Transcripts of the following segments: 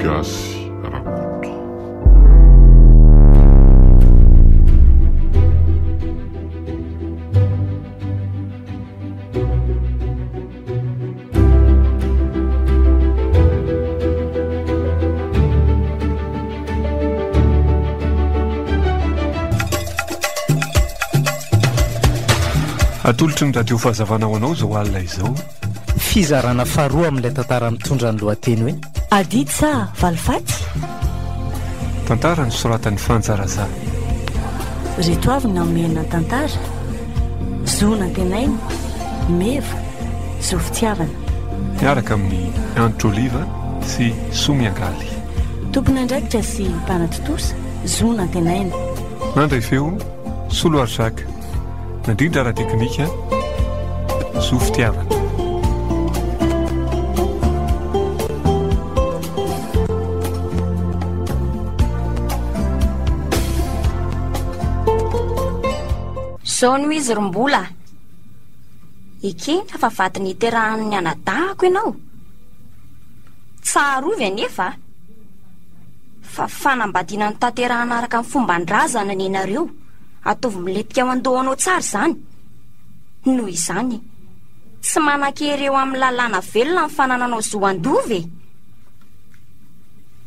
Gasy Rakoto. Atolotry ny radio Fahazavana ho anao izao alina izao. Fizarana faharoa amin'ilay tantara mitondra ny lohateny hoe. Adidy sa valifaty? Tantara nosoratan'i Fanja Razah. Ireto avy ny hamehana ny tantara, zo nantenaina, meva, zo fitiavana. Miaraka amin'i Andry Oliva sy Soa Miangaly. Tompon'andraikitra sy mpanatontosa, zo nantenaina. Nandray feo, Soloary Jacques. Nandrindra ara-teknika, zo fitiavana. Zao no izy ry mbola a! Ekena fa vady niterahan'ny anadahako ianao. Tsarovy anefa a! Fa fanambadiana notanterahan'araka ny fomban-drazana nenareo. Ataovy milentika ao an-dohanao tsara izany. Noho izany, tsy manan-kery eo amin'ny lalàna velona ny fanananao zo handova e!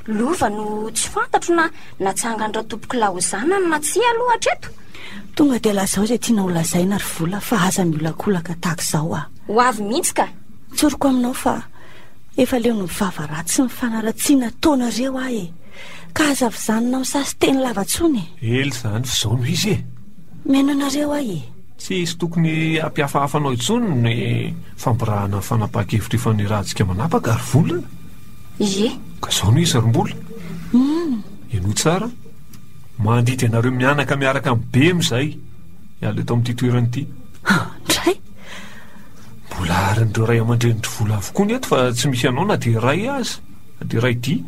Lova no tsy fantatro na natsangan-dRatompoko Laozana ny na tsia aloha hatreto. Tonga dia lazao izay tianao lazaina ry Vola fa aza miolakolaka tahaka izao ah. Ho avy mihitsy ka. Tsoriko aminao fa efa leo ny vava ratsy sy ny fanaratsiana ataonareo ahy e! Ka aza vizanina misasy teny lava tsony e! Ela izany f'izao no izy e! Mihaino anareo aho e! Tsy hisy tokony hampihafahafa anao intsony ny fampirahana ny fanapahan-kevitra ifanirahantsika manapaka ary vola e! Ie! Ka izao no izy ry Mbola! Hum! Henoy tsara an! Mandidy anareo mianaka miaraka amin'ny bem izahay hiala eto amin'ity toerana ity! Indray! Mbola arin'ireo ray aman-drenin-dry Vola avokoa ny eto fa tsy misy anao na dia iray aza! Dera ity.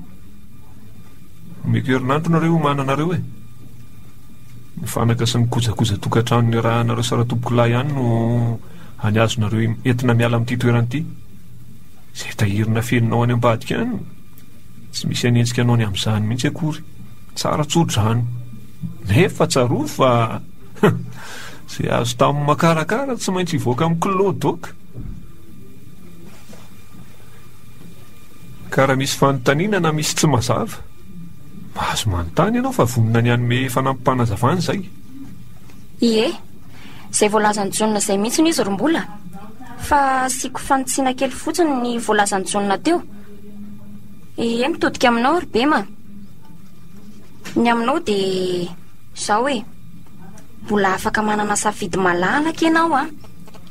Omeko herinandro nareo omanana reo e. Ny fanaka sy ny kojakoja tokantrano niarahanareo sy Ratompokolahy ihany no any azonareo entina miala amin'ity toerana ity. Izay tahirina feninao any ambadika any, tsy misy hanenjika anao ny amin'izany mihitsy akory. Tsara tsodrano. Nefa tsarovy fa izay azo tamin'ny makarakara tsy maintsy hivoaka amin'ny kilao doka. Ka raha misy fanontaniana na misy tsy mazava, mahazo manontany ianao fa vonona ny hanome fanampim-panazavana izay. Ie. Izay voalazan'i Jaona izay mihitsiny izy ry Mbola. Fa asiako fanitsiana kely fotsiny ny voalazan'i Jaona teo. Ie, mitodika aminao ry Bema. Ny aminao dia izao e. Mbola afaka manana safidy malalaka ianao an.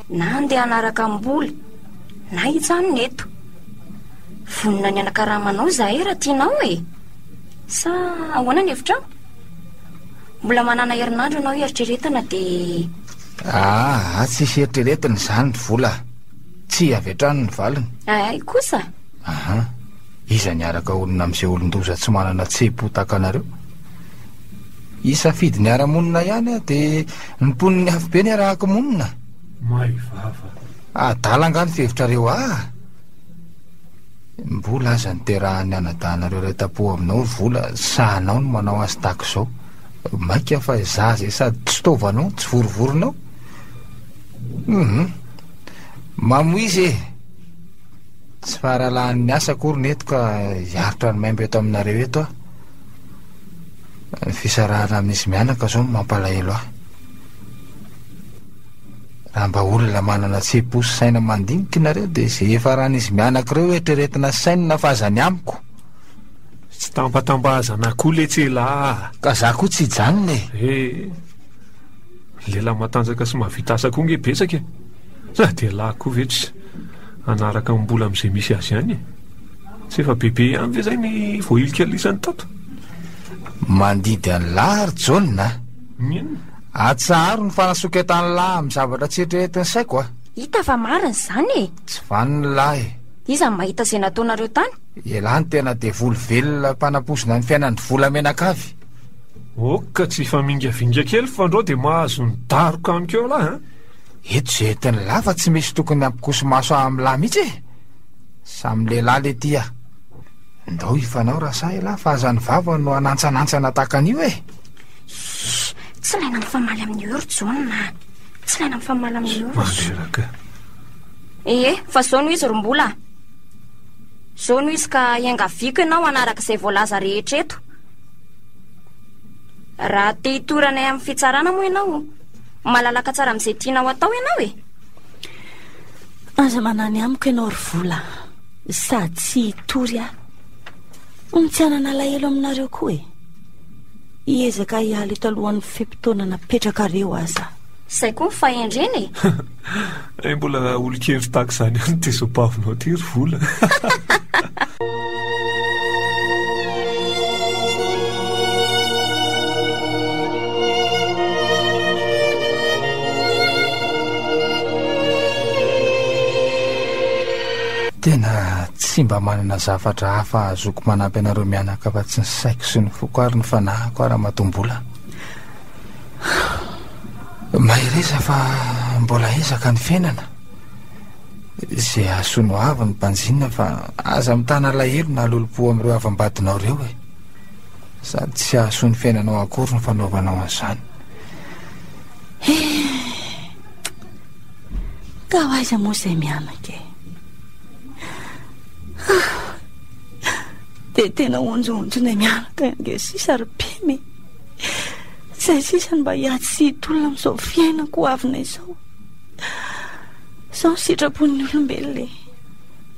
Na handeha hanaraka an'i Mbola, na hijanona eto. Vonona ny hanakarama anao izahay raha tianao e! Sa ahoana ny hevitrao? Mbola manana herinandro ianao hieritreretana dia... Aa, tsisy eritreretina izany ry vola. Tsy avy hatrany ny valiny. Ay kosa? Aha, iza niaraka honina amin'izay olon-doza tsy manana tsepo tahaka anareo? Hisafidy ny hiara-monina ihany aho dia ny mponin'ny afobe no iarahako monina. Maivava. Adala angaha ny fihevitrareo ah! Mbola aza niterahan'ny anadahinareo iray tam-po aminao ny vola, sahanao ny manao azy tahaka izao. Mainka fa izaho izay sady tsy taovanao no tsy vorovoronao. Humm! Mamoizy e! Tsy faharalahan'ny asa akory ny eto ka hiaritra ny maimbo eto aminareo eto aho. Ny fisarahana amin'izy mianaka izao no mampalahelo ahy. Raha mba olona manana tsepo sy saina mandinika nareo dia ze hifaran'izy mianaka ireo eritreretina sainina fa aza ny amiko. Tsy tambatambazana koa letsy elah ah! Ka za koa tsy hijanona e! Eh! Lehilahy matanjaka sy mahavita asa koa nge betsaka e! Sa dia lahy koa ve tsy hanaraka amim-bola amin'izay misy azy ihany e! Tsy efa bebe ihany ve zay ny voahilika lisany tato? Mandidy an'lah ry Jaona a! Ny inona? Atsaharo ny fanasoketan'ny lahy amin'ny zavatra tsy eritreretin'ny saiko a! Hita fa marina izany e! Tsy vanon'ny lahy e! Iza no mahita izay nataonareo tany? Elah ny tena devoly velona mpanampoizina ny fiainan'ny volamenakavy! Ok, tsy hifamingavinga kely fa ndrô dia mahazo ny daroka amiko eo lahy a! Eto izay entin'ny lahy fa tsy misy tokony hampikoso-maso ahy amin'ny lahy mihitsy e! Samy lehilahy le ty a! Ndao hifanao raha sahy elah fa aza ny vava no hanantsanantsana tahaka an'io e! Shh! Tsy ilaina mifamaly amin'i Heuro, John a! Tsy ilaina mifamaly amin'i Heuro. Mandreraka. Ee, fa izao no izy ry Mbola a! Izao no izy ka iangaviako ianao hanaraka izay voalaza rehetra eto. Raha te hitory anay amin'ny fitsarana moa ianao, malalaka tsara amin'izay tianao atao ianao e! Aza manany amiko ianao ry Vola, sady tsy hitory aho. Ho tsy hanana alahelo aminareo koa e! Hiezaka hiala eto alohan'ny fe-potoana napetrakareo aza. Izay koa ny fahendrena e! Hay mbola olon-kendry tahaka izany ihany ny tesobavinao aty ry Vola. Tena tsy mba manana zavatra hafa azoko manampy anareo mianaka afa-tsy ny Saiko sy ny foko ary ny fanahiko ary Amatoambola Mahereza fa mbola ezaka ny fiainana Izay hahasoa no avy ny mpanjinina fa aza mitana alahelo na lolompo amin'ireo havam-badinao ireo e Sady tsy hahasoa ny fiainanao akory ny fanaovanao an'izany Ka ho aiza moa izay mianaka e? Dia tena onjohonjona eny miaraka eny nge sisa ry Pemy e! Izay sisa no mba hiady sy hitolona amin'izao fiainako ho avina izao. Izao ny sitrapon'ny olombelona e!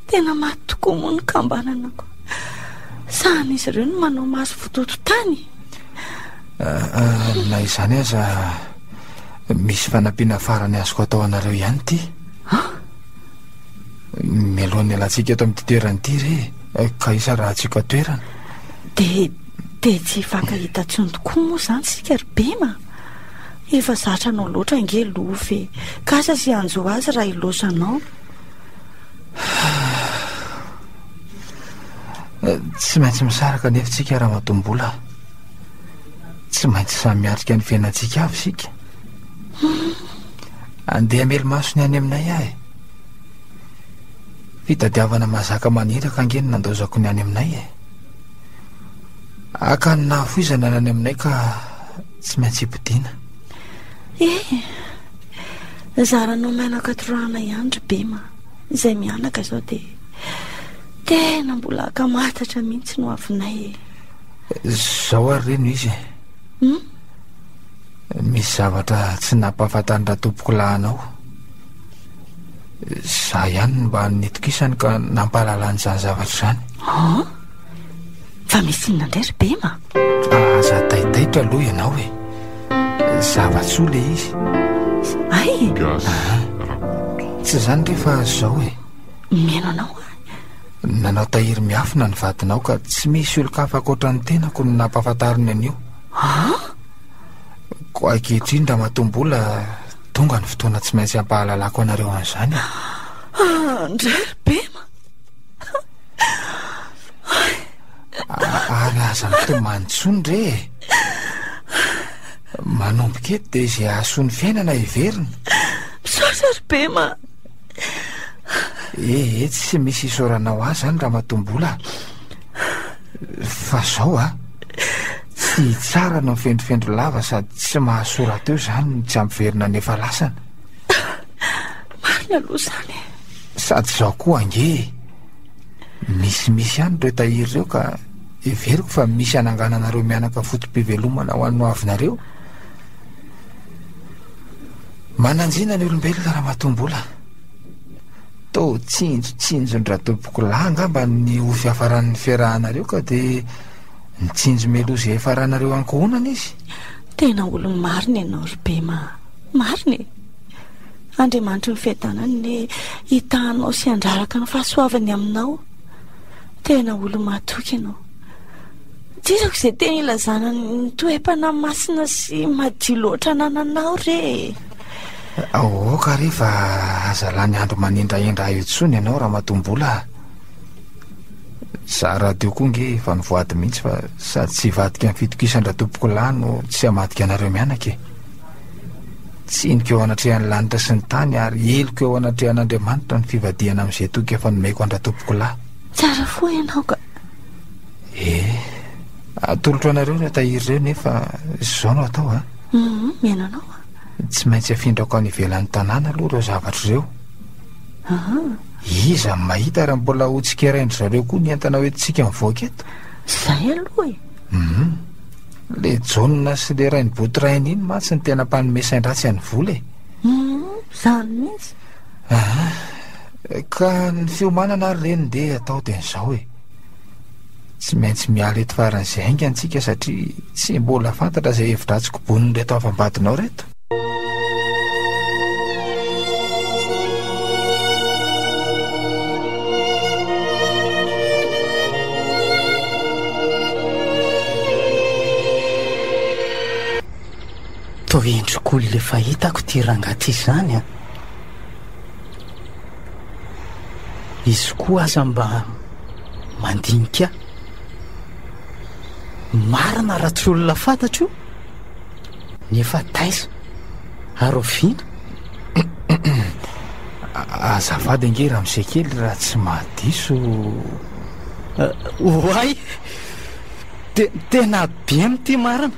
Tena maty tokoa moa ny kambanana ko. Sahan'izy ireo no manao maso vototo tany e! Ah, ah, na izany aza, misy fanampiana farany azoko atao anareo ihany ity. Ah? Mialohan'ny alantsika eto amin'ity toerana ity re eh, ka hisarahantsika toerana. Dia dia tsy hifankahita intsony tokoa moa izany sika ry Bema. Efa zatra anao loatra ange Lofy e. Kasa sy hanjo azy raha hiloso anao. Eh, tsy maintsy misaraka nefa tsika raha matombola. Tsy maintsy samy miatrika ny fiainantsika avy isika. Andeha hamely maso ny any aminay aho e. Fitadiavana mazaka maniraka ange no nandaozako ny any aminay e. Haka ny nahafoizana ny any aminay ka tsy maintsy hipodiana. Eh, zaranao menaka torahana ihany ry Bema, izay mianaka izao dia tena mbola akamatatra mihitsy no avinay e. Zao ary reny izy e. Hmm? Misy zavatra tsy nampahafantarin-dRatompokolahy anao. Izaho ihany no mba nitokisany ka nampahalalany izany zavatra izany. An? Fa misy inona indray ry Bema? Aza taitaitra aloha ianao e. Zava-tsoa ilay izy. Ay e! Gasy Rakoto. Tsy izany re fa izao e. Mihaino anao aho. Nanao tahiry miafina ny vadinao ka tsy misy olon-kafa ankoatra ny tenako no nampahafantariny an'io. An? Koa ankehitriny, Ramatombola, tonga ny fotoana tsy maintsy hampahalalako anareo an'izany. Andray ry Bema! Ary aza mitomany intsony re e! Manomboka eto dia izay hahasoa ny fiainana heverina. Misaotra ry Bema! Ehe, tsy misy isaoranao ahy izany, Ramatombola. Fa zao a! Tsy tsara ny mifendrofendro lava sady tsy mahasora teo izany ny tsy hampiverina ny efa lasana. Marina aloha izany e! Sady izao koa ange e! Misimisy ihany ireo tahiry ireo ka heveriko fa misy hanangananareo mianaka foto-pivelomana ho an'ny ho avinareo. Mananjina ny olombelona Ramatoa Mbola. Toa tsinjotsinjon-dRatompokolahy angamba ny ho fiafaran'ny fiarahanareo ka dia nitsinjo meloa izay hiafaranareo ankohonana izy. Tena olo-marina ianao ry Bema a! Marina e! Andriamanitry ny fiadanana anie hitahanao sy handraraka ny fahasoavany aminao. Tena olo-mahatoky ianao. Dizako izay teny ilazana ny toe-panahy masina sy madio loatra anananao re e! Aoka re fa aza lany andro manendrahendra ahy eo intsony ianao ramatoa Mbola a! Izaho rahateo koa ange efa nivoady mihitsy fa sady tsy hivadika ny fitokisan-dRatompoko lahy no tsy hamadika anareo mianaka e! Tsiniko eo anatrehan'ny lanitra sy ny tany ary heloka eo anatrehan'Andriamanitra ny fivadihana amin'izay toky efa nomeko an-dRatompoko lahy. Tsara fo ianao ka! Eh! Atolotro anareo ireo tahiry ireo nefa izao no atao a! Humm! Mihaino anao aho. Tsy maintsy afindrako any ivelan'ny tanàna aloha ireo zavatra ireo. Aha. Iza no mahita raha mbola ho tsikerain-dry zareo koa ny entana hoentintsika mivoaka eto? Izay aloha e. Mhm. Le jaonina sy le rain'i Botorainy iny mantsy ny tena mpanome sain-dratsy an'i Vola e. Mhm, izany mihitsy. Aha. Ka ny fiomanana ary reny dia atao dia izao e. Tsy maintsy miala eto faran'izay haingana tsika satria tsy mbola fantatra izay hevidratsy kobonin'ireto havam-badinao ireto. Toa endrik'olona efa hitako ity rangahy ity izany an! Izy koa aza mba mandinika marina raha tsy olona fantatro ny efa taiza ary oviana azavady ange raha misay kely raha tsy mahadiso eh, oay tena be mitia marina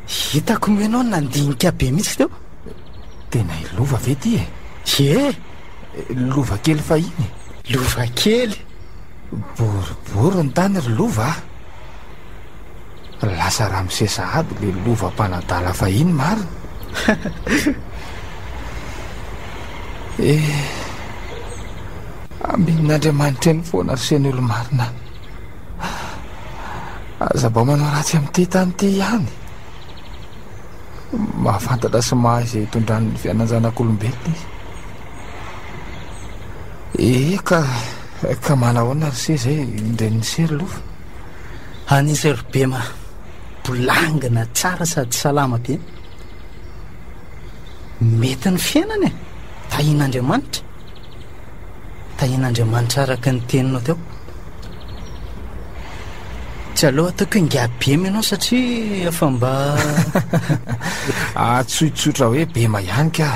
Hitako moa ianao nandinika be mihitsy teo. Tena i Lova ve ity e? Ie! Lova kely fahiny e. Lova kely? Boribory ny tany ry Lova a. Lasa Ramosesa aby le Lova mpanadala fahiny marina. e eh, amin'Andriamanitra eny foana ry Sen'Olomarina. Aza mba manao ratsy amin'ity tany ity ihany. Mahafantatra sy mahay izay hitondran'ny fianan-janak'olombelona izy. Eh, ka, ka manahoana ry se izay indren'ny sery lofa? Any sery be ma, bolangina tsara sady salama be. Mety ny fiainana e, tahin'Andriamanitra. Tahian'Andriamanitra araka ny teninao teo. Tsy aleo ataoko hoe ingahy Bema ianao satria efa mba ahatsoitsotra hoe Bema ihany ka.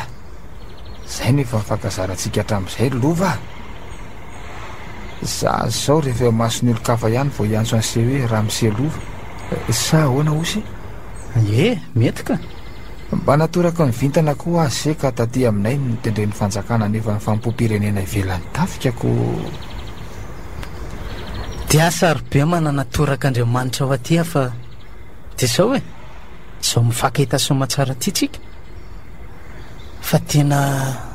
Izay no efa nifankazarantsika hatramin'izay ry Lova. Za zao rehefa eo mason'ny olon-kafa ihany vao hiantso an'ise hoe Ramose Lova. Sa ahoana Osy? Ie, mety ka. Mba natoraka ny vintana koa aho se ka taty aminay no notendren'ny fanjakana hanefa ny fanompoam-pirenena ivelan'ny tafika koa Dia sarobe manana toraka Andriamanitra ao aty afa dia zao e, zao mifankahita soamatsara aty tsika fa tena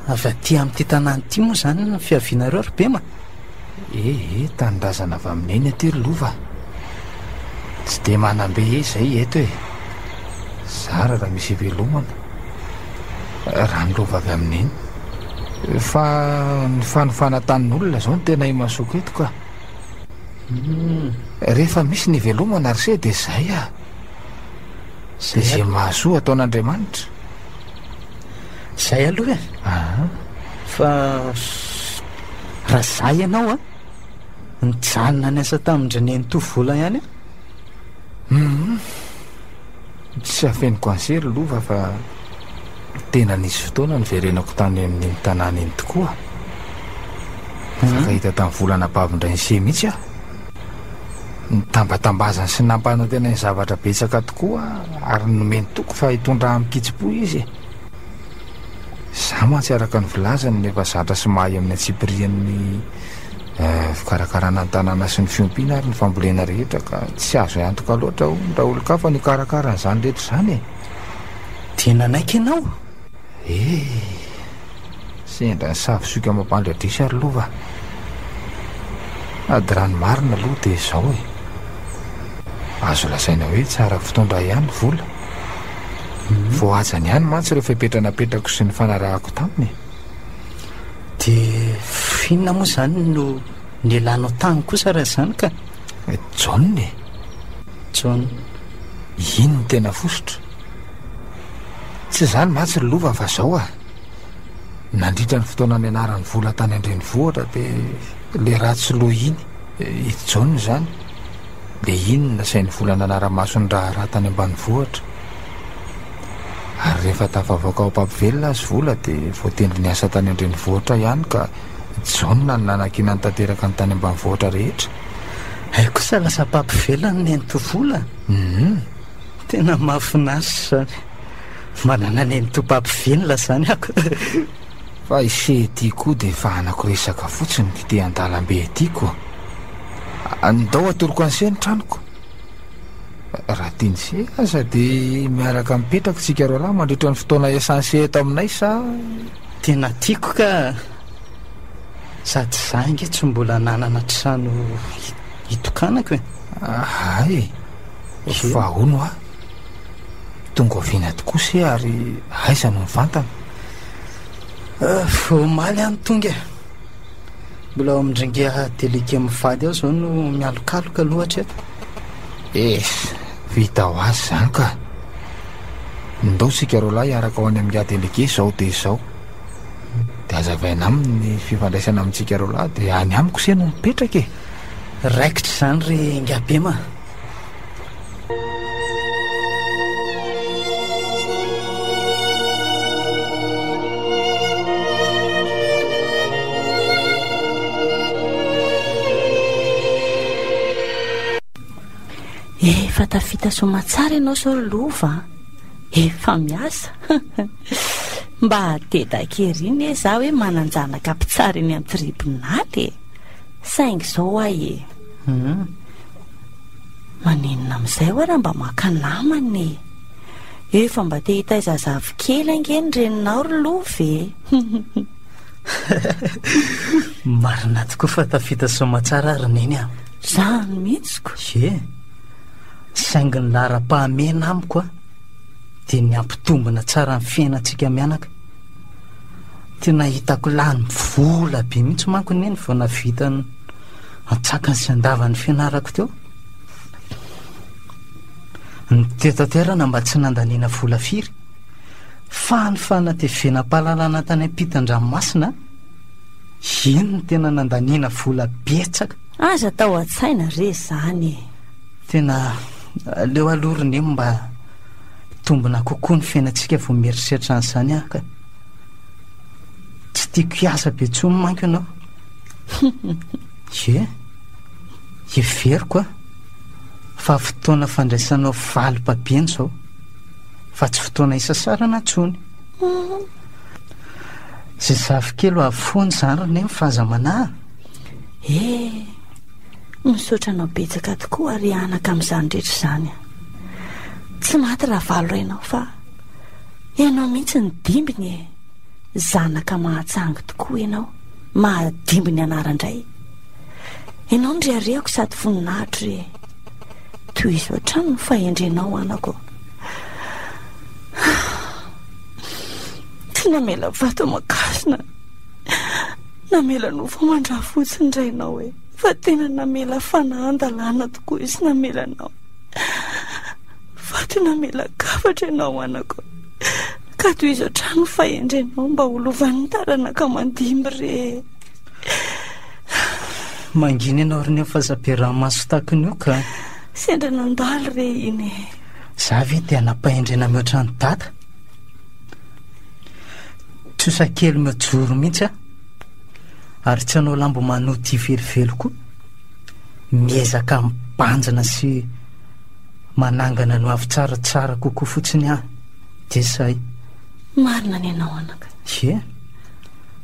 avy aty amin'ity tanàna ity moa zany ny fiavianareo ry Bema? Ee, tanindrazana avy amin'i Neny aty ry Lova a! Tsy dia manam-be izay eto e! Zara raha misy ivelomana, raha ny Lova avy amin'i Neny. Fa ny fanofana tanin'olona izao no tena imasoako eto ka! Rehefa misy ny ivelomana ry se dia izay a! Dia izay mahasoa ataon'Andriamanitra. Izay aloha e! Aa! Fa. raha za ianao a nijanona ny asa tamin-dry nenitoa vola ihany a um tsy afeniko anse ry lova fa tena nisy fotoana niverenako tany amin'iny tanàna iny tokoa fankahita tamin'ny volana bavindray ny se mihitsy aho nitambatambazany sy nampanantena ny zavatra betsaka tokoa ary nomeny toko fa hitondra amin'ny kitsipo izy Za mantsy araka ny filazany no efa zatra sy mahay amin'ny antsipirihan'ny fikarakarana ny tanàna sy ny fiompiana ary ny fambolena rehetra ka tsy azo antoka loatra hono raha olon-kafa no hikarakara an'izany rehetra izany e! Dia nanaiky ianao? Eh! Sendra ny savisoika mampandradrisa ry lova a! Sady raha ny marina aloha dia izao e! Azo lazaina hoe tsara fitondra ihany ny vola. Voahajany ihany mantsy ireo fepetra napetrako sy nifanarahako taminy e! Dia f'inona moa izany no nialanao tany kosa raha izany ka? John e! John. Iny no tena fositra. Tsy izany mantsy ry lova fa izao a! Nandritra ny fotoana nianarany vola tany an-drenivohitra dia le ratsy loha iny, i John izany, le iny no nasainy vola nanara-maso ny raharaha tany ambanivohitra. Ary rehefa tafavoaka ao Papivelona azy vola dia voatendry niasa tany an-drenivohitra ihany ka John no nanankinany tanteraka ny tany ambanivohitra rehetra. Hay kosa lasa Papivelona no nenti-vola. Hum, tena mahafinaritra izany. Manana nenitompam-pivenona izany aho. Fa i Che ity koa dia fahanako resaka fotsiny ity an-dalambe ity koa. Andao atoroko an'i Che ny tranoko. Raha tian'i Che aza dia miaraka mipetraka isika roa lahy mandritra ny fotoana iasan'i Che eto aminay sa... Tena tiako ka. Sady izaho ange tsy mbola nanana trano hitokanako e. Hay e. Fa hono hoa. Tonga avy eny aty kosa e ary aiza no mivantana? Vao omaly aho no tonga e. Mbola ao amin'ny dringa delika mivady aho izao no mialokaloka aloha hatreto. Eh, vita ho azy izany ka. Ndao isika roalahy hiaraka ho any amin'ny ga delege izao dia izao. Dia azavaina aminy ny fifandraisana amintsika roalahy dia any amiko se no mipetraka e. Raikitra izany ry Ingabema. Efa tafita somatsara ianao sao ry lova a. Efa miasa. Mba hatedak ery ne za hoe manan-janaka mpitsara eny an-tribonaly e. Saingy izao ahy e. Maninona amin'izay hoa raha mba maka namana e! Efa mba te hitaiza zafikely ange ny reninao ry lova e! Marina tokoa fa tafita soamatsara ry neny a! Zany mihitsy ko! Ye! Saingy ny laharam-pahamehana amiko a dia ny hampitombina tsara ny fiainantsika mianaka. Tena hitako lany vola be mihitsy manko neny vao nahavita ny. antsakany sy andavany fianarako teo ny tetaterana mba tsy nandaniana vola firy fa ny fanatevenam-pahalalana tany am-pitan-dranomasina eny ny tena nandaniana vola betsaka aza tao an-tsaina re zany e tena aleo aloha ry neny mba tombina kokoa ny fiainantsika vao mieritreritra an'izany aho ka tsy tiako hiasa be intsony manko ianao Ie, heveriko an, fa fotoana fandraisanao valim-pabiany izao, fa tsy fotoana hisasarana intsony. Izay zafikely ho avy foana izany ry Neny fa aza manahy. Ee, misaotra anao betsaka tokoa ry anaka amin'izany rehetra izany an. Tsy maty Ravalo rainao fa ianao mihitsy no dimbiny e! Zanaka mahatsangy tokoa ianao. mahadimby ny anara ndray Ianao no reharehako sady voninahitro e Tohizo hatrany ny fahendrenao anako Tsy namela vato aman-kasina Namela nofo aman-drafotsy ny rainao e Fa tena namela fanahan-dalàna tokoa izy namelanao Fa tena namela kafatra ianao anako Ka tohizo hatrany ny fahendrenao mba ho lovan'ny taranaka mandimby re e. Mangina ianao ry nefa aza be ranomaso takiny io ka. Sendra nandalo re iny e. Za ve te hanam-pahendrena mihoatra an'i Dada? Trosa kely mijoro mihitsy aho. Ary tsy hanao lambo manoty velively koa. Miezaka mibanjina sy manangana ny ho avy tsara tsara kokoa fotsiny aho. Jesay. Marina ny anao anaka. Ie,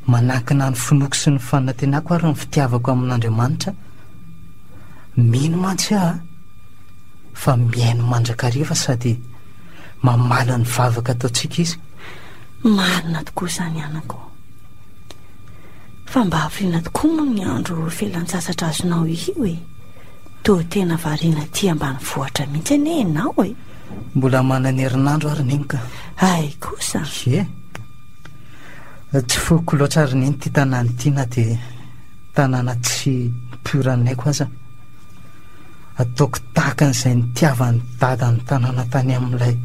manankina ny finoako sy ny fanantenako ary ny fitiavako amin'Andriamanitra. Mino mantsy aho fa mihaino mandrakariva sady mamaly ny vavaka ataontsika Izy. Marina tokoa izany anako. Fa mba hafiriana tokoa moa ny andro felan-tsasatra azonao io e. Toa tena variana aty ambanivohitra mihitsy anie ianao e. Mbola manana herinandro ary neny ka. Hay kosa. Ye. Tsy foko loatra ary neny ity tanàna ity na dia tanàna tsy mpioran'ny aiko aza. Ataoko tahaka an'izay nitiavan'ny dada ny tanàna tany amin'ilay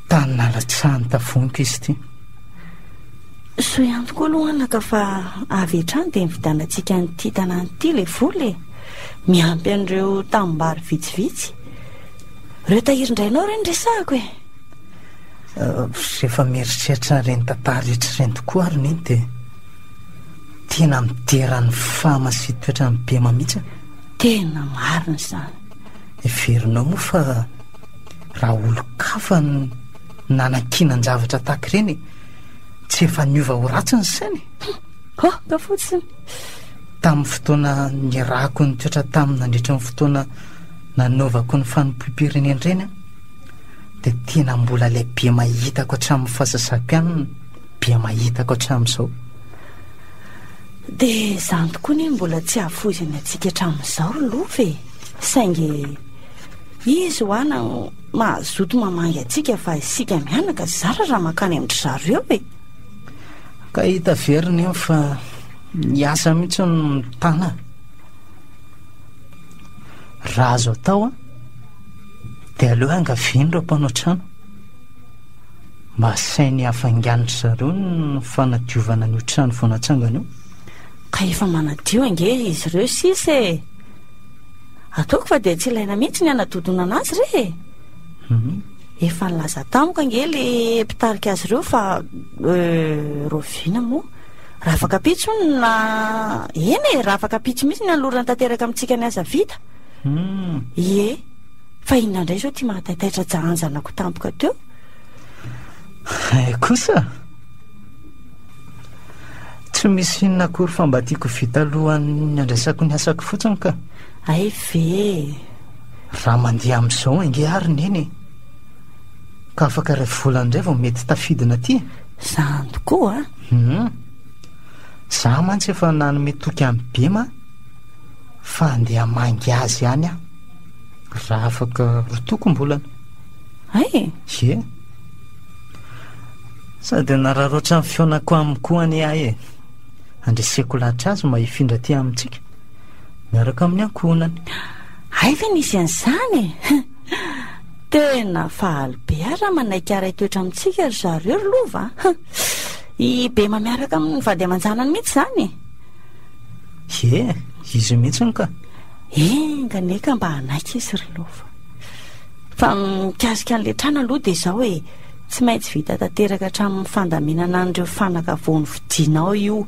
tany nalatsahany tavonika izy ity. Soa ihany tokoa aloha anaka fa avy hatrany dia nividianantsika an'ity tanàna ity ilay vola e. miampy an'ireo tanimbary vitsivitsy. Ireo tahirin-drainao ireny resahako e. Rehefa mieritreritra ireny tantara rehetra ireny tokoa ary neny dia tena midera ny fama sy toetra ny bema mihitsy. Tena marina izany. Heverinao moa fa raha olon-kafa no nanankinan-javatra tahaka ireny tsy efa niova ho ratsy ny sainy? Aoka fotsiny. Tamin'ny fotoana nirahako ny toetra taminy nandritra ny fotoana nanaovako ny fanompoam-pirenendrena dia tena mbola ilay be mahitako hatramin'ny fahasasaam-pianana be mahitako hatramin'izao. Dia izany tokoa anie mbola tsy hahafoizany antsika hatramin'izao ry Lova e! Saingy izy hoa no mazoto mamangy antsika fa isika mianaka zara raha mankany amin-dry zareo e! Ka hita very nefa fa ny asa mihitsy no mitana raha azo atao an dia aleo angaviany ireo mpanao trano mba asainy hafainganindry zareo ny fanadiovana an'io trano vao natsangana io ka efa manadio ange izy ireo sisa e ataoko fa dia tsy ilaina mihitsy ny hanadodonana azy re e mhm. Efa nilaza tamiko ange le mpitarika azy ireo fa euh, Rovina moa raha afaka pitsy hono na eny e raha afaka pitsy mihitsy ny hanolorana tanteraka amintsika ny asa vita Hmm. ie fa inona indray izao ty mahataitaitra jahan'ny zanako tampoka teo Eh kosa Tsy misy inona akory fa mba tiako vita alohan'ny andraisako ny asako fotsiny ka ay ve Raha mandeha amin'izao ange ary Neny e! Ka afaka iray volana indray vao mety tafidina aty e! Izany tokoa a! Hum! Izaho mantsy efa nanome toky an'i Bema fa handeha hamangy azy ihany aho. Raha afaka roa tokom-bolana. Hay e! Ie! Sady hanararaotra ny fihaonako aminy koa anie aho e! Handreseko lahatra azy mba hifindra aty amintsika. miaraka amin'ny ankohonany. Hay ve nisy an'izany e! Tena faly be ary raha manaiky haray toetra amintsika ry zareo ry lova a! I Bema miaraka amin'ny vady aman-janany mihitsy izany e! Ie, izy mihitsy no ka! Enga anie ka mba hanaiky izy ry lova. Fa mikasika an'ilay trano aloha dia izao e, tsy maintsy vita tanteraka hatramin'ny fandaminana an'ireo fanaka vao novidianao io.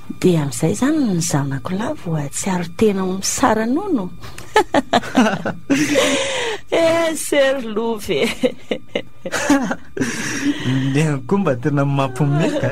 Dia amin'izay izany ny zanako lahy voahatsiaro tena ho misara-nono? Eh, Sir Love e! Ny ahy koa mba tena mampiomehy ka!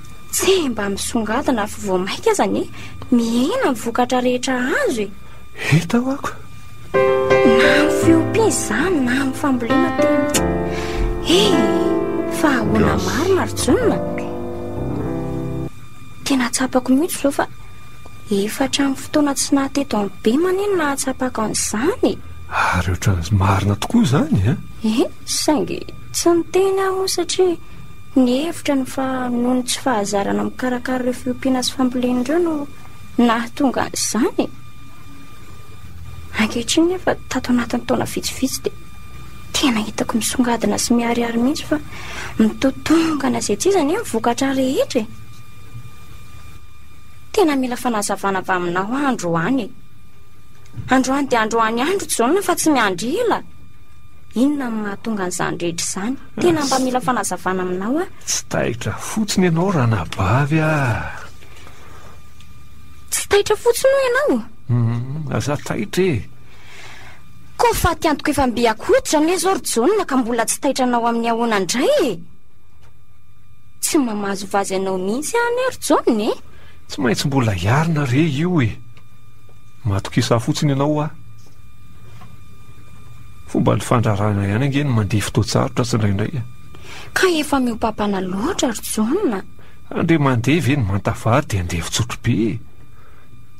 Tse mba misongadina fa vao maika aza anie mihena ny vokatra rehetra azo e. Hita ho ako. Na amin'ny fiompiana izany na amin'ny fambolena tena. E, fa ahoana marina ry Jonina? Tena tsapako mihitsy izao fa efa hatramin'ny fotoana tsy naha teto amin'ny Bem anie no nahatsapako an'izany e. Ary ohatran'ny marina tokoa izany e. E, saingy tsy niteny aho satria. Nihevitra ny fa noho ny tsy fahazarana mikarakara ireo fiompiana sy fambolena ireo no nahatonga an'izany e! Ankehitriny nefa tato anatin'ny taona vitsivitsy dia tena hitako misongadina sy miharihary mihitsy fa mitotongana izay tsy iza anie ny vokatra rehetra e! Tena mila fanazavana avy aminao aho androany e! Androany dia androany andro tsy zao no fa tsy miandry ela! Inona no mahatonga an'izany rehetra izany? Tena mba mila fanazavana aminao aho. Tsy taitra fotsiny ianao ranabavy ah! Tsy taitra fotsiny hoy ianao? Hum, aza taitra e! Koa fatiantoko efa mby akohitra anie izao ry Jaona ka mbola tsy taitra anao amin'ny ahoana indray e! Tsy mamazo vazy anao mihitsy aho anie ry Jaona e! Tsy maintsy mbola hiarina re io e! Matokisa fotsiny ianao aho. Fomban'ny fandrarana ihany ange ny mandeha fotoan-tsarotra tsindraindray e. Ka efa miopapana loatra ry Jaona. Andeha mandeha ve ny manta vary dia andeha fitsotro be e.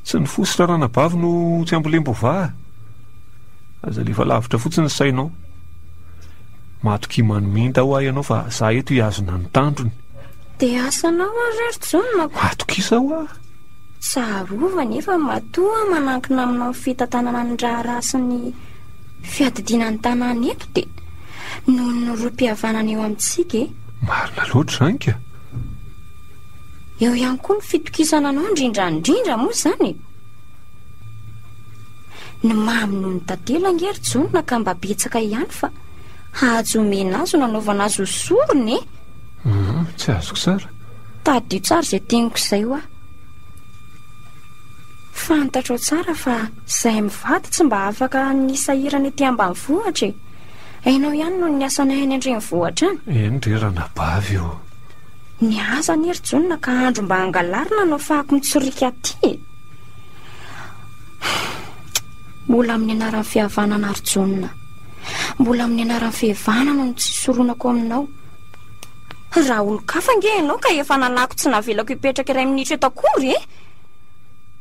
Tsy ny fo sy raranabavy no tsy ambolembo va? Aza alefa lavitra fotsiny ny sainao. Matokia maniminda hoa ianao fa za eto hihazona ny tandrony. Dia asanao ary ry Jaona ko. Atokisa hoa. Tsarovy anefa matoa manankina aminao ny fitantanana ny raharaha sy ny fiadidiana ny tanàna eto dia noho ny rohim-pihavanana eo amintsika e. Marina loatra izany ka. Eo ihany koa ny fitokisana anao indrindra indrindra moa izany e. Ny maha amin'ny noho ny tantely ange ry Jona ka mba betsaka ihany fa hahajo omena azy ho nanaovana azy ho sorona e. Tsy azoko tsara. Tadidio tsara izay teniko izay hoa. Fantatrao tsara fa izahay mivady tsy mba afaka ny sahirana ety ambanivohitra e! Hainao ihany noho ny asanay any an-drenivohitra any. Eny re ranabavy o! Niasa anie ry Jonina ka andro mba hangalarina no afahako mitsoriaka aty e! Mbola amin'ny anaran'ny fihavanana ry Jonina. Mbola amin'ny anaran'ny fihevana no nitsisoronako aminao. Raha olon-kafa ange ianao ka efa nanako tsy navelako hipetraka iray minitra eto akory e!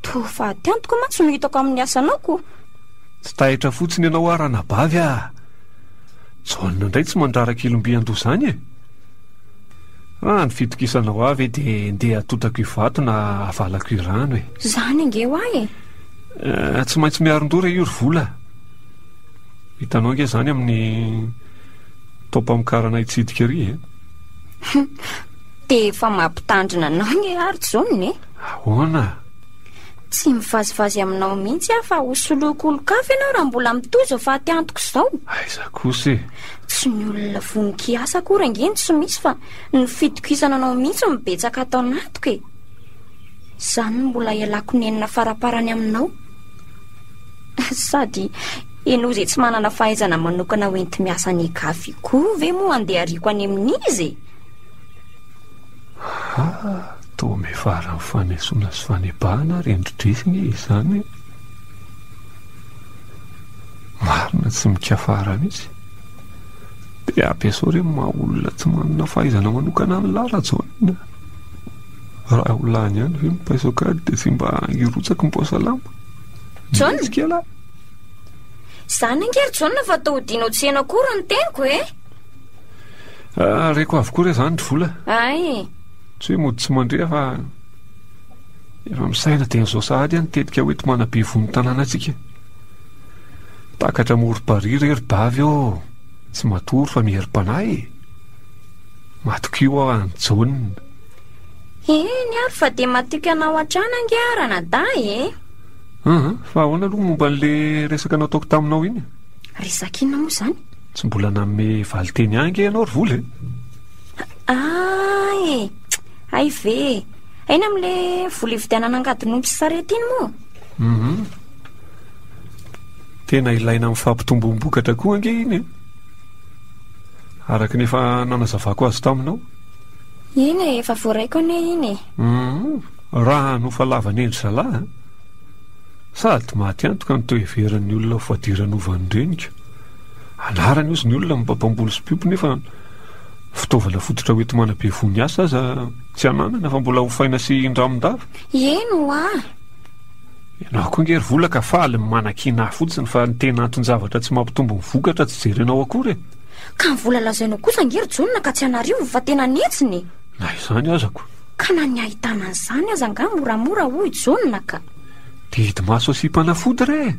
Toa faty antoka mantsy no hitako amin'ny asanao ko! Tsy taitra fotsiny ianao hoa ranabavy a! Jaona indray tsy mandrara kilombian-doha izany e! Raha ny fitokisana hoa ve dia ndeha hatotako io vato na havalako io rano e! Izany ange hoa e! Eh, tsy maintsy miarin-doha re io ry vola a! Hitanao ange izany amin'ny. Taom-pamokarana hitsidika ery e! Hum! Dia efa mampitandrina anao ny ry Art izao ne? Ahoana? Tsy mivazivazy aminao mihitsy aho fa ho soloiko olon-kafa ianao raha mbola mitohy izao fahatiantiko izao. Aiza kosa e! Tsy ny olona vono kiasa akory ange no tsy misy fa ny fitokisana anao mihitsy no betsaka ato anatiko e! Izany no mbola ialako nenina faraparany aminao. Sady Ianao izay tsy manana fahaizana manokana ho enti-miasa any Igafi koa ve moa andehariko any amin'iza e? Haa toa mivaran'ny fanesoana sy fanebahana ary endri-dreso anie izany e! Marina tsy mikafara mihitsy. Dia ampiasao re ny maha olona tsy manana fahaizana manokana an'i lahy Rajoelina a! Raha ho lany ihany ve ny paiso an-kady dia tsy mba hirotsaky ny paosalama? John! Izany ange ry Jaona fa toa hodianao tsy heno akory ny teniko e! Ah, reko avokoa re izany ry vola. Ay! Tsy hoe mody tsy mandre fa efa misaina dia an'izao sahady aho nitetika hoe tomana be vono tanàna antsika. Takatra morom-parihy re ry bavy ô! Tsy matory fa miherim-panahy e! Matokio aho an'i Jaona. Eny ary fa dia matoky anao hatrany ange aho ranadahy e! Aa, fa ahoana aloha momba an'le resaka nataoko taminao iny? Resaka inona moa izany? Tsy mbola nanome valinteny ahy ange ianao ry vola e! Aa e! Hay ve e! Aina amin'le vola ividianana angadin'omby sy sarety iny moa? Hum. Tena ilaina amin'ny fampitomboam-bokatra koa ange iny e! Araka ny efa nanazavako azy taminao. Eny e, efa voaraiko anie iny e! Hum. Raha nofalavan' endry zalahy a! Sady maty antoka ny toheveran' ny olona ho fadiranovany ny reniko. Anarany ozy ny olona mba mpamboly sy mpiompy nefa fitaovana fototra hoenti-mana be voho ny asa aza tsy ananana fa mbola hofaina sy indramindava. Eny hoa! Ianao koa ange ry vola ka faly ny manakiana ahy fotsiny fa ny tena anton-javatra tsy mampitombo ny vokatra tsy jerenao akory e! Ka ny vola lazainao kosa ange ry Jonona ka tsy an'arivo fa tena an'hetsiny e! Na izany azako. Ka na ny ahitana an'izany aza angaha moramora hoy Jaona ka. Didimaso sy mpanafody re e!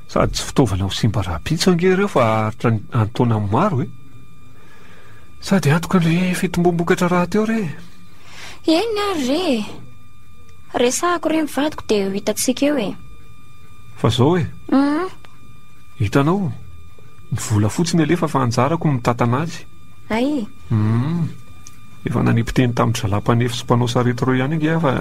Sady tsy fitaovana ho simba rahampitso ange ireo fa haharitra ny an-taona maro e! Sady antoka ny fitombom-bokatra rahateo re e! Eny ary re e! Resahako re ny vadiko dia eo hitantsika eo e! Fa zao e! Hum! Hitanao, ny vola fotsiny alefa fa anjarako ny mitantana azy. Ay! Hum! Efa nanipiteny tamin'ny zalahy mpanefy sy mpanao sarety ireo ihany ange aho fa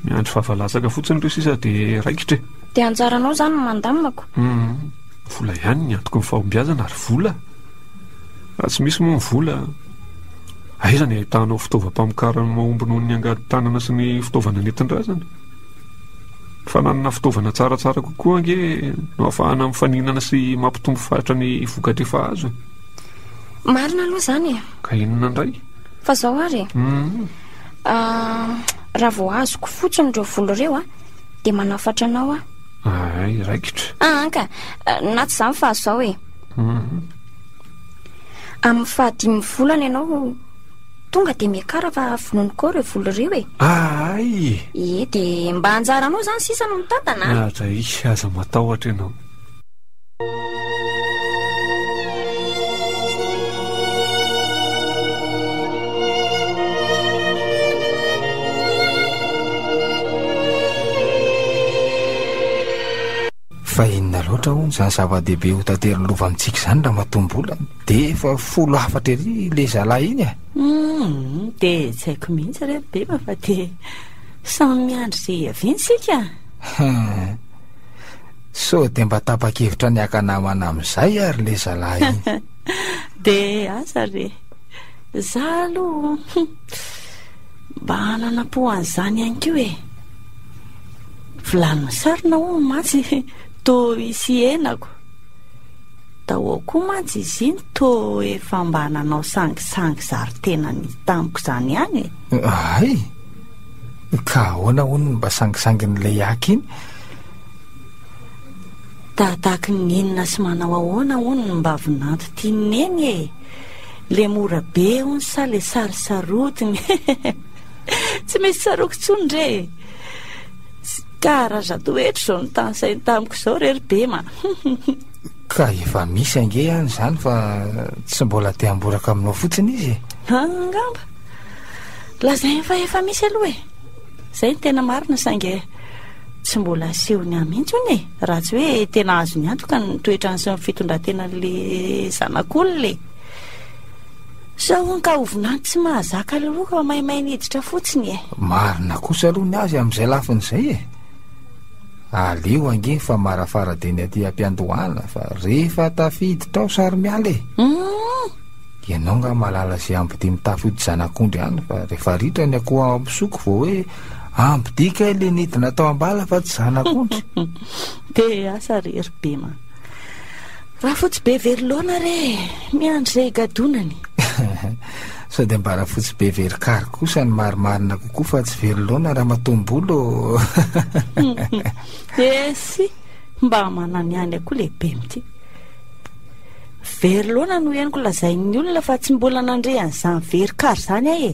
miandry vava latsaka fotsiny ireo sisa dia raikitra e! Dia anjaranao izany no mandamako? Humm! Vola ihany ny antoky ny fahombiazana ry vola! Raha tsy misy moa ny vola, aiza ny ahitanao fitaovam-pamokarana mahomby noho ny angady tanana sy ny fitaovana nentin-drazana? Ny fananana fitaovana tsaratsara kokoa ange no ahafahana mifaninana sy mampitombo faritra ny vokatra efa azo e! Marina aloha izany e! Ka inona indray? Fa izao ary e! Ahh, raha vao azoko fotsiny ireo vola ireo an, dia manafatra anao aho. Ahay, raikitra. Aa ka! Na tsy izany fa izao e! Amin'ny fahadimy volana ianao tonga dia miakara fa vononokao ireo vola ireo e! Ahay! Ie, dia mba anjaranao izany sisa no mitantana an! Aza, aza matahotra ianao. fa inona loatra ho ny zany zava-dehibe ho tantery lova amintsika izany raha matombolany de efa folo hafatra ery le zalahy iny e eh? hmm, de tsaiko mihitsy re bema fa de samy miandry ze hiaviantsika Sao dia mba tapa-kevitra ny haka namana amin'izay ary ilay zalahy iny. Dia aza re. Izaho aloha mba hanana-po an'izany ihany koa e. Vilany misarona hono mantsy toa hisy henako. Dahou koa mantsy izy iny toa efa mba nanao sangisangy zary tenany tamiko izany ihany e. Hay! Ka ahoana hono ny mba sangisangin'ilay haka iny? Tahatahaky ny inona sy manao ahoana hono ny mbavinanto tian'i Neny e? Le mora be hono sa le sarisarotiny? Tsy misy tsaroako intsony re e! Ka raha za toetra izao ny tany sainy tamiko izao re ry Bema. Ka efa misy ange ihany izany fa tsy mbola te hamboraka aminao fotsiny izy e. Angamba. Lazainy fa efa misy aloha e. Zay ny tena marina saingy tsy mbola asehony ahy mihitsy hono e raha tsy hoe tena azony antoka ny toetrany sy ny fitondran-tenan'le zanak'olona e sao hono ka hovinany tsy mahazaka loka maimay ny hiditra fotsiny e marina kosa aloha ny azy amin'izay lafiny izay e aleo ange ny famarafarabe ny aty ampiandohana fa rehefa tafiditra ao sary miala e mm. ianao nga malala izay ambodia mitafody zanak'ondry any fa rehefa ritra ny akoho ampisoko vao hoe Ampidiy kay le nidina tao ambala fa tsy zanak'ondry. Te hiasa re ry Bema. Rafotsy be very laona re, miandry izay higadonany. Sao dia mba rafotsy be very kary kosa ny marimarina kokoa fa tsy very laona ramatoa Mbolo. Esy, mba manana ny any akoa le Bem ty. Very laona no henoko lazain'ny olona fa tsy mbola nandre an'izany very kary izany aho e.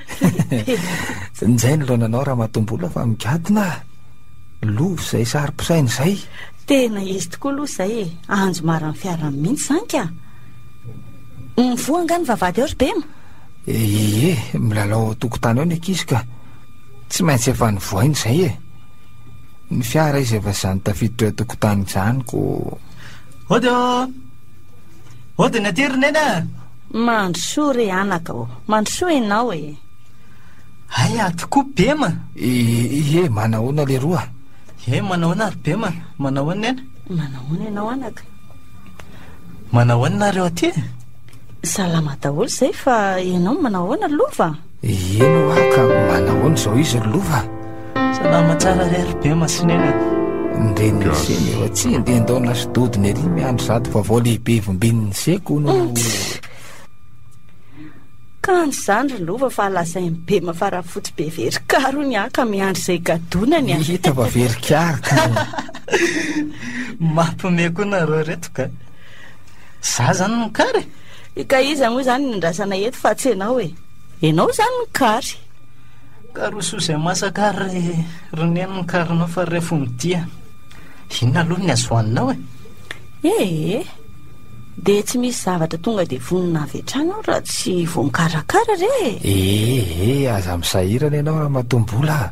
Nizay ny laonanao Ramatoa Mbola fa migadona ah Lova izay saro-pisaina izay Tena izy tokoa aloha izay e Anjo maran'ny fiarany mihitsy izany ka Mivoha angaha ny vavahady ao ry Bem? Ie, milalao ao an-tokotany ao ny ankizy ka Tsy maintsy efa nivoaina izay e Ny fiara izy efa izany tafiditra eo an-tokotany izany ko Hody ô! Hody ny aty ry Neny a! Mandrosoa re anaka ô! Mandrosoa ianao e! Hay ato koa Bema! Ie, manahoana leroa? Ie, manahoana ary Bema? Manahoana Nena? Manahoana ianao anaka? Manahoana nareo aty? Salama daholo izay fa ianao manahoana Lova? Eny hoa ka manahoana izao izy ry lova a? Salama tsara re ry be masinena a! Ndeha niseny eo atsy ndeha ndao nasododiny ery miandry zato vaovao lehibe vombin'ny seko no Kanjo izany ry lova fa lazain'i Bema fa Rafotsy be very kary hono aho ka miandry izay gadonany a! Hita fa very kary ka! Mampiomehy koa nareo reto ka! Za zany no kary e! Ka iza moa izany no andrasana eto fa tsy ianao e? Ianao izany ny kary. Karoso izay masaka ary ry neny ny karinao fa ref ho mitia. Inona aloha ny azohaninao e? Ee, dia tsy misy zavatra tonga dia vonona avy hatrany aho raha tsy voakarakara re e! Ee, aza misahirana ianao ramatoa Mbola a!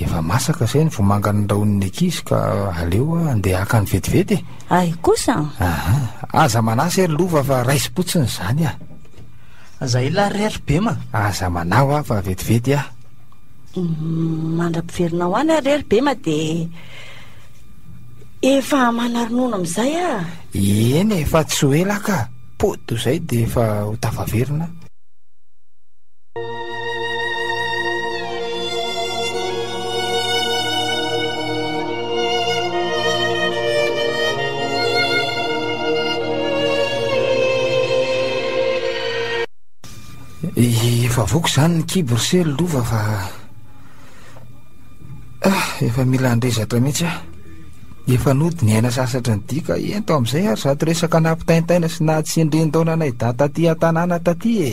Efa masaka izay ny vomanga norahonin'ny ankizy ka aleo handeha hakany vetivety e! Ahy kosa an! Aha, aza manahy se ry lova fa raisim-potsiny izany an! Aza hilahy re ry bema! Aza manahy aho fa vetivety an! Mandra-piverina ho any aho re ry bema dia efa manaronono amin'izay an! Eny e, fa tsy ho ela ka! Pody toy izay dia efa ho tafaverina an! Efa avoako izany ny kibo ry sely lova fa ah, efa mila handrezatra mihitsy ah. Efa nody ny aina sasatra ny dika ento amin'izay ary zato resaka nampitaintaina sy nahatsindrin-daona anay data aty an-tanàna taty e.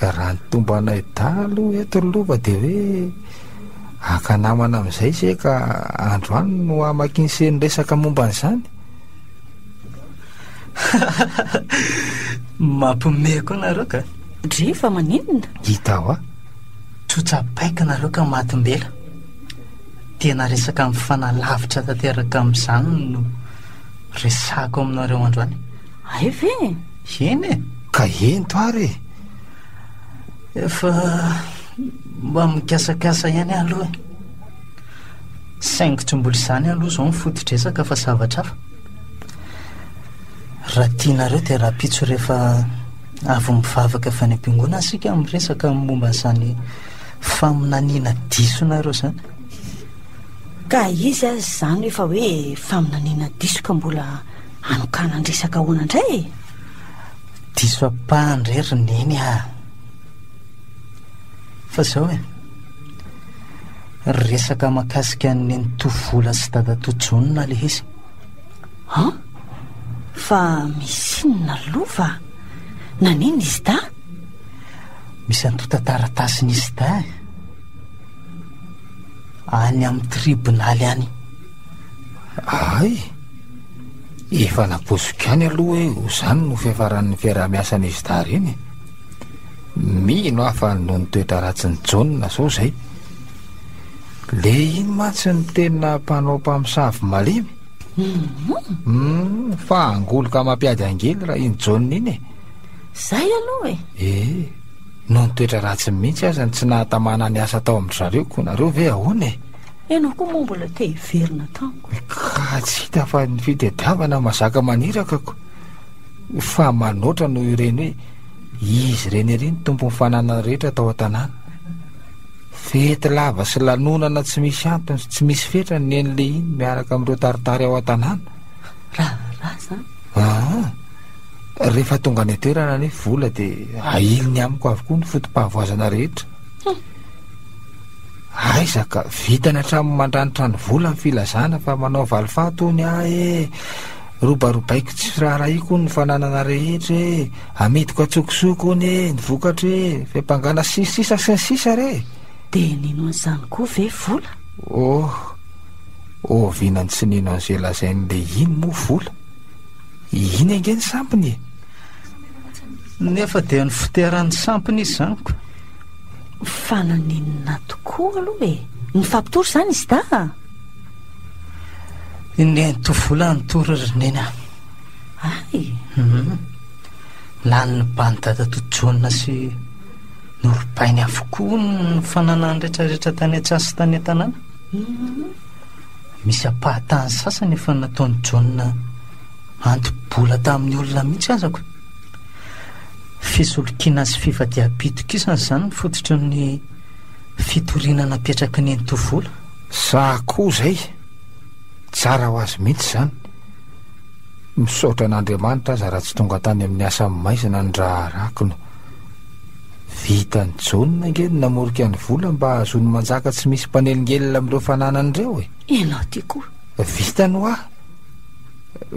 raha ny tombanay dahalo eto ny lova dia hoe aka namana amin'izay se ka andro any no amakinse ny resaka momba an'izany mampime koa nareo ka dre fa maninona hita hoa tsotsapaiko nareo ka matimbela tena resaka amin'ny fanalavitra tanteraka amin'izany no resako aminareo andro any ay ve Eny e! Ka ento ary e! Efa mba mikasakasa ihany aho aloha e! Saingy tsy mbola izany aloha izao ny foto-dresaka fa zavatra hafa. Raha tianareo dia rahampitso rehefa avy mivavaka avy any am-piangonana isika no miresaka ny momba an'izany faminaniana disonareo izany. Ka izy aza izany efa hoe faminaniana diso ka mbola Hanokanan-dresaka ahoana indray e? Diso ampahany indray ry Neny a! Fa izao e, resaka mahakasika an'i Nenitoa Vola sy Dadatoa Jaona ilay izy. Han? Fa misy inona lova? Nanina i Zidà? Misy antontan-taratasin'i Zidà e. Any amin'ny tribonaly any. Hay! Efa napoiziko ihany aloha hoe ho izany no fiafaran'ny fiaraha-miasan'izy dahy ireny e. Mino aho fa noho ny toetra ratsin'i Jaona sao izay. Le iny mantsy ny tena mpanao mpamosavy malemy. Mm, fa angoloka mampiady angely raha iny Jaona iny e. Zay aloha e. Eh, noho ny toetra ratsiny mihitsy aza ny tsy nahatamana ny asa tao amin'ny zareo koa nareo ve ahoana e? Ianao koa moa mbola te hiverina tamiko e. Ka tsy hita fa ny fitadiavana mazaka maniraka ko. Fa manoatra noho ireny hoe izy ireny ery ny tompon'ny fananana rehetra tao an-tanàna. Fety lava sy lanonana tsy misy antony sy tsy misy fetrany ny eny lehiany miaraka amin'ireo taritary ao an-tanàna. Raharaha izany. Aa, rehefa tonga any an-toerana anie vola dia ahiliny amiko avokoa ny foto-pahavoazana rehetra. Aiza ka, vitany hatramin'ny mandranitra ny vola ny filazana fa manao valifaty hono aho e! Robarobaiko tsy firaharahiako hono ny fananana rehetra e! Amidiko an-tsokosoko hono e! Ny vokatra e! Fiampangana sy ny sisa sy ny sisa re! Dia nino an'izany koa ve vola? Oh! Ohaviana no tsy nino an'izay lazain'i Lehiny moa vola? Iny ange ny sampiny e! Nefa dia ny fiteran'ny sampiny izy izany ka! Fa naninona tokoa aloha e? Nifampitory izany i Sda a? Indray nitovola nitory ry Neny a. Ay? Hum. Lany ny ban'i dadatoa Jaona sy norobainy avokoa ny fananany rehetrarehetra tany an-tsaha sy tany an-tanàna. Hum. Misy ampahatany sasany efa nataon'i Jaona anto-bola tamin'ny olona mihitsy aza ko. Fisolokiana sy fifadiam-pitokisana izany no fototry ny fitoriana napetraky ny Ntovola. Za koa zay, tsara ho azy mihitsy zany. Misaotra an'Andriamanitra aza raha tsy tonga tany amin'ny asa maizina ny raharahako no vitan'i Jaona ange ny namorika ny vola mba hahazoany manjaka tsy misy mpanelingelina amin'ireo fananany ireo e. Ianao ty koa. Vitany hoa,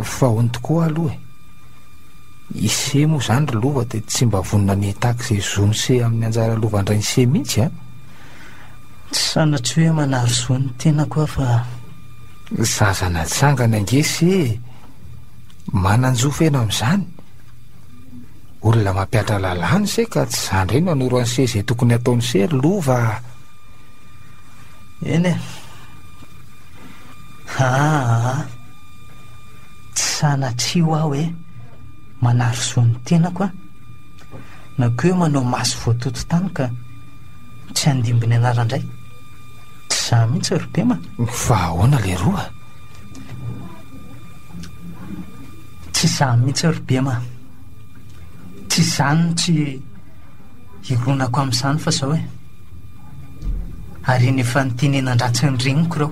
fahony tokoa aloha e. Ise moa zany ry lova dia tsy mba vonona ny hitaky izay zon'ise amin'ny anjara lovan-drain'ise mihitsy an! Tsy sanatria hoe manary soa ny tenako aho fa. Zaza natsangany ange ise e! Manan-jo feno amin'izany! Olona mampihatra lalàna ise ka tsy za indray no hanoro an'ise izay tokony hataon'ise ry lova a! Eny e! Haa! Tsy sanatria hoa hoe manary zo ny tenako an! Na koa hoe manao maso voatoto tany ka tsy handimby ny anarany indray! Tsy izaho mihitsy ry Pema a! Fa ahoana leroa? Tsy izaho mihitsy ry Pema a! Tsy izany no tsy hironako amin'izany fa izao e! Ary iny efa nitenenan-dratsy ny reniko ireo!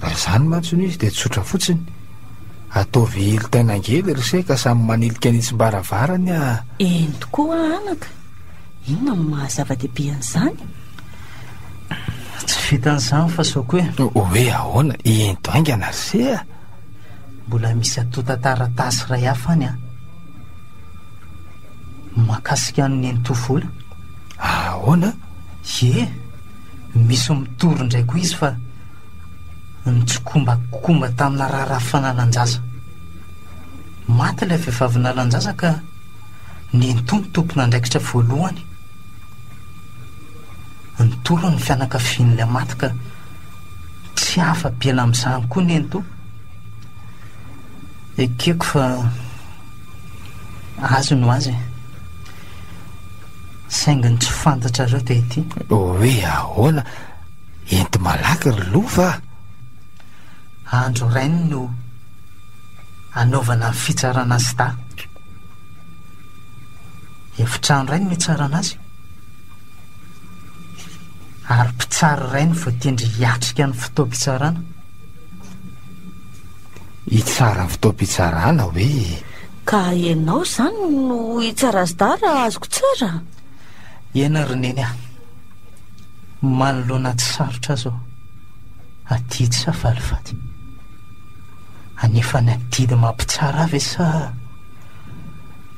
Raha izany mantsy no izy dia tsotra fotsiny. Ataovy hilitaina angely ry se ka samy manilika ny tsim-baravarany a! Eny tokoa anaka! Inona no maha zava-dehibe an'izany? Tsy vitan'izany fa sao koe. Hoe ahoana? Ento haingana ry se a! Mbola misy antontan-taratasy iray hafa any an! Mahakasika an'i Nenitovola. Ahoana? Ie! Misy mitory indray koa izy fa nitsikombakomba tamina raharaha fananan-jaza. Maty ilay vehivavy nanan-jaza ka nentoa ny tompon'andraikitra voalohany. Nitory ny fianakavian'ilay maty ka tsy afa-be ela amin'izany koa nentoa. Ekeko fa azy no azy e. Saingy ny tsy fantatrareo dia ity. Hoe ahoana? Enti-malaky ry lova a! Andro rainy no hanaovana ny fitsarana azy dahy. Efitrano iray no hitsarana azy, ary mpitsara iray no voatendry hiatrika ny fotoam-pitsarana. Hitsara ny fotoam-pitsarana hoe? Ka ianao izany no hitsara azy dahy raha azoko tsara? Eny ry Neny ah! Manoloana tsy sarotra azy aho, adidy sa valifaty? Anefa ny adidy mampitsara ahy ve sa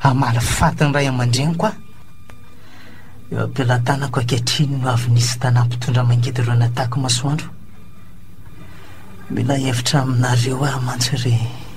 hamaly faty ny ray aman-dreniko aho? Eo am-pelatanako ankehitriny no avy nisy tanà mpitondra mangidireo nataky masoandro. Mila hevitra aminareo aho mantsy ry.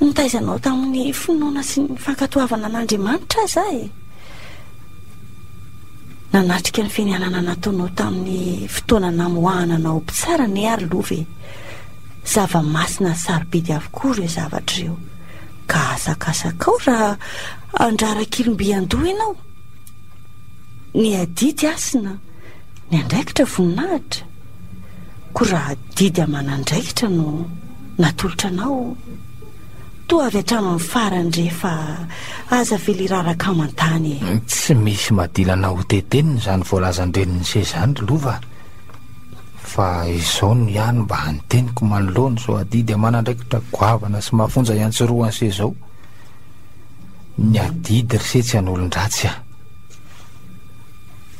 Nitaiza anao tamin'ny finoana sy ny fankatoavana an'Andriamanitra aza aho e! Nanatrika ny fianianana nataonao tamin'ny fotoana namoahana anao ho mpitsara anie aho ry Lova e! Zava-masina sy sarobidy avokoa ireo zavatra ireo, ka asakasakao raha handrara kilom-by an-doha ianao. Ny adidy hasina, ny andraikitra voninahitra, koa raha adidy aman'andraikitra no. Natolotra anao toa avy hatramin'ny farany re fa aza avela iraraka aman-tany e. Tsy misy madilana ho tetenina izany voalazan-dreniny se izany ry Lova a. Fa izao no ihany mba ny teniko manoloana izao adidy aman'andraikitra goavana sy mafonja iantsorohany se izao. Ny adidy ry se tsy an'olon-dratsy a.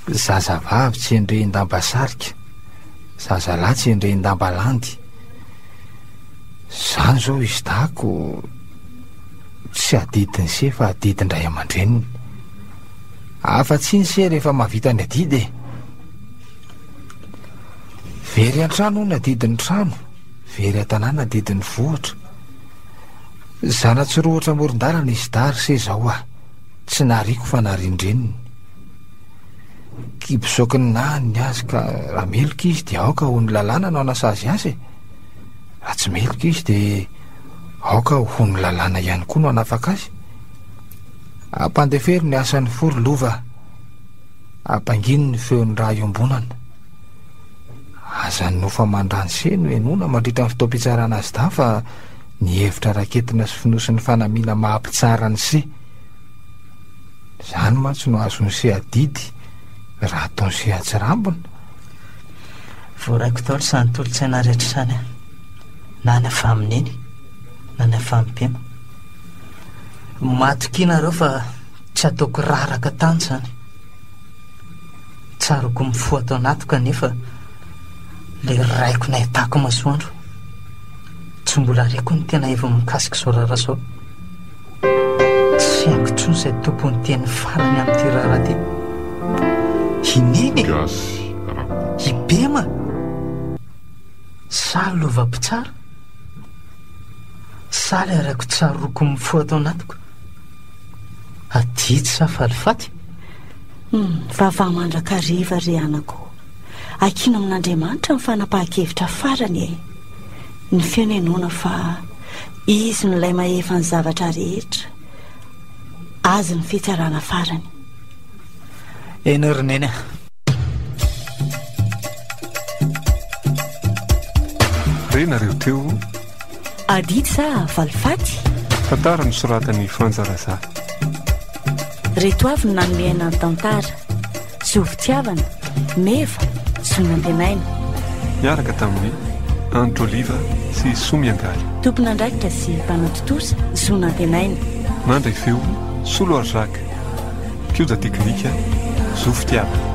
Zazavavy tsy endrehin-damba sarika, zazalahy tsy endrehin-damba landy. Izany izao izy dahako tsy adidiny se fa adidin-dray aman-dreniny. Afa-tsy iny se rehefa mahavita ny adidy e. Very an-trano ny adidin'ny trano, very an-tanàna adidin'ny vohitra. Zana-tsirohotra amoron-dalana izy dahy ry se izao aho, tsy nariako fa narian-dreniny. Ki bisaoky ny nahany ny azy ka raha meloka izy dia aoka ho ny lalàna no hanasazy azy e. Raha tsy meloka izy dia aoka ho ny lalàna ihany koa no hanafaka azy. Ampandefero ny asan'ny fo ry lova. Ampangino ny feon'ny raha iombonana. Aza ny nofa mandrany se no henoina mandritra ny fotoam-pitsarana azy dahy fa ny hevitra raketina sy fonosin'ny fanamiana maha-mpitsara ny se. Zany mantsy no azon'ny se adidy raha ataon'ny se atsirambina. Voaraiko daholo izany tolotsaina rehetra izany an! Na ny avy amin'ny neny na ny avy amin'ny mpino. Matokia nareo fa tsy ataoko raraka tany izany. Tsaroako mifoha ato anatiko anefa le raiko nahitako masoandro. Tsy mbola reko ny tena heviny mikasika izao raharaha izao. Tsy fihaino intsony izay tompon'ny teny farany amin'ity raharaha ity. I Neny e! Gasy Rakoto. I Bema! Saly lova mpitsara. Saly arako tsaroako mifo ato anatiko. Adidy sa falifaty? Humm, vavaha mandrakariva ry anako o! Akina amin'Andriamanitra ny fanapahan-kevitra farany e! Ny feno henoina fa. Izy no ilay mahefa ny zavatra rehetra. Azy ny fitsarana farany. Eny ry neny a. Re nareo teo. Adidy sa valifaty? Tantara nosoratan'i Fanja Razafy. Reto avy no nanome aina ny tantara. Zo fitiavana, meva, zo nantenaina. Niaraka tamin'i Andry Oliva sy Soa Miangaly. Tompon'andraikitra sy mpanao tontosa, zo nantenaina. Mandray feo, Soa Loary Jacques. Mpikoja teknika, zo fitiavana.